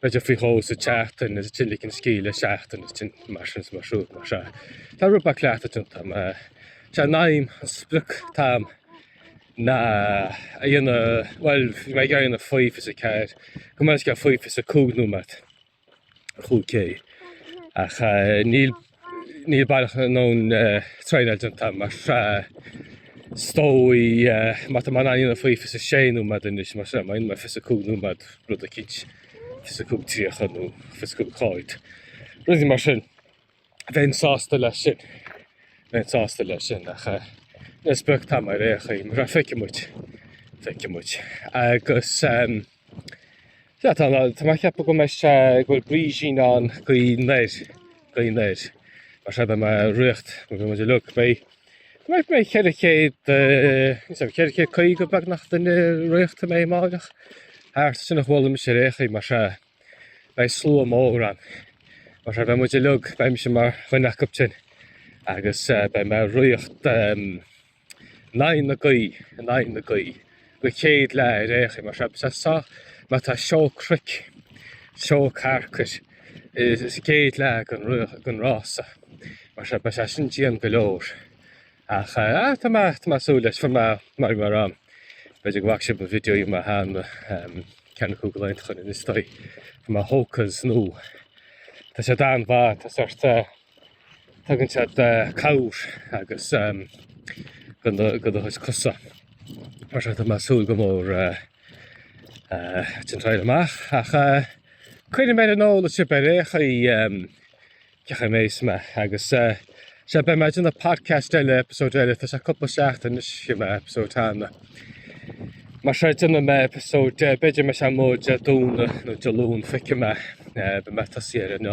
B'fhéidir faoi dhó sa tseachtain is ansin ligean scíth le seachtain is sin mar sin is mar siúd mar seo. Tá rud beag cleachtadh déanta agam sé an aidhm an sprioc atá agam ná é a dhéanamh, bhuel bhí mé ag iarraidh é a dhéanamh faoi fiche is a ceathair, gabh mo leithscéal faoi fiche is a cúig nóiméad chúig K ach eh, níl Níl baileach a ndóthain traenáil déanta agam mar is dóigh má tá mé in ann é a dhéanamh faoi fiche is a 6 nóiméad anois mar sin I mean mar fiche is a 5 nóiméad rud eicínt fiche is a 5 30 nó fiche is a 5 40. Rudaí mar sin. Bheinn sásta leis sin. Bheinn sásta leis sin ach eh, an sprioc atá agam ar aon chaoi mar feicfidh muid feicfidh muid agus ehm, Sea, tá mé ag ceapadh go mbeidh sé, go bhfuil brísín ann gaoth anoir, gaoth anoir. Mar seo beidh mé ag ritheacht, mar beidh muid uilig beidh. Tá mé mé 400, eh, is é, 450 beagnach duine ag ritheacht a mbeidh amárach. Thart sin a chuala mise ar aon chaoi mar seo, beidh slua mór ann. Mar seo beidh muid uilig, beidh mise mar dhuine acu sin agus eh, beidh mé ag ritheacht, em, in aghaidh na gaoithe, in aghaidh na gaoithe, don chéad leath ar aon chaoi mar seo, sa soth mar tá seó cnoic, seó carcair, sa chéad leath den rása mar seo, beidh sé sin dian go leor. Ach tá mé ag súil leis, fuair mé mar go mé orm, b'fhéidir go bhfaca sibh mo video mar cheana, ceann acu cúpla laethanta ó shin is dóigh, fuair mé Hokas nua, tá siad an-mhaith, tá sórt, Tugann siad cabhair agus do do chois cosa mar seo tá mé ag súil go mór lena dtraíáil amach ach coinneoidh mé ar an eolas sibh ar aon chaoi cén chaoi a mbeidh mé agus sea beidh mé ag déanamh podcast eile episode eile tá sé cúpla seachtain anois ó bhí mé episode cheana mar seo déanfaidh mé episode b'fhéidir mé sé móide Dé Domhnaigh nó Dé Luain feicfidh mé beidh mé ag tosaí ar an